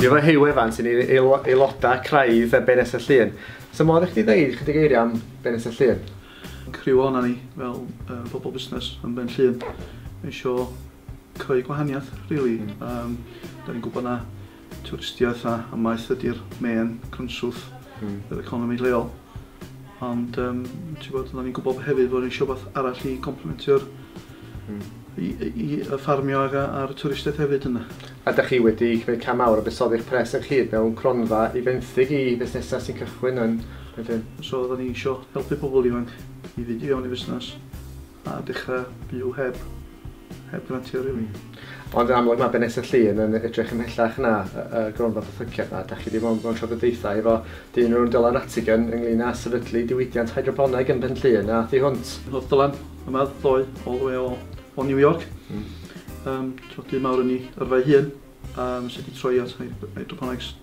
Efo Huw Evans, sy'n aelodau craidd y Benes y Llun. So modd i chdi ddeud chydig eiriau am Benes y Llun? Criw o'na ni, fel uh, bobl busnes yn Ben Llun, eisiau creu gwahaniaeth, really. Um, da ni'n gwybod na twristiaeth a a maeth ydy'r main cynllwth mm. yr economi lleol. Ond um, ti'n bod, oedden ni'n gwybod hefyd bod ni'n eisiau beth arall i complementio'r mm. i, i, y ffarmio ag a'r twristiaeth hefyd yna. A da chi wedi cymryd cam mawr o busoddi'ch pres yn chyd mewn cronfa i fenthyg i fusnesau sy'n cychwyn yn Bethyn. So oedden ni eisiau helpu pobl ifanc i fynd i fewn i fusnes. A dechra byw heb, heb grantiau rili. Ond yn amlwg mae Benesa Llŷn yn edrych ymhellach na y gronfa bythyciad na. Da chi wedi bod mewn trafodaethau efo dyn o'r enw Dylan Rattigan ynglŷn â sefydlu diwydiant hydroponeg yn Benllŷn a thu hwnt. Roedd Dylan yma ddoe all the way o New York. Yym, dyn mawr yn ei yrfa ei hun. Yym, sut i troi at hydroponics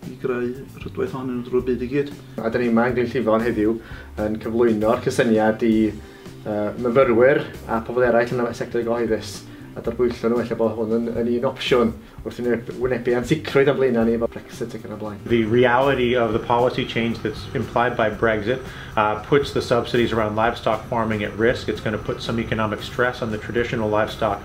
i greu rhwydwaith ohonyn nhw drwy'r byd i gyd. A da ni yma yn Glyn Llifon heddiw yn cyflwyno'r cysyniad i uh, myfyrwyr a pobl eraill yn y sector gyhoeddus a darbwyllo nhw, efallai bod hwn yn, yn un opsiwn wrth i ni wynebu ansicrwydd am blaenau ni efo Brexit ac yn y blaen. The reality of the policy change that's implied by Brexit uh, puts the subsidies around livestock farming at risk. It's going to put some economic stress on the traditional livestock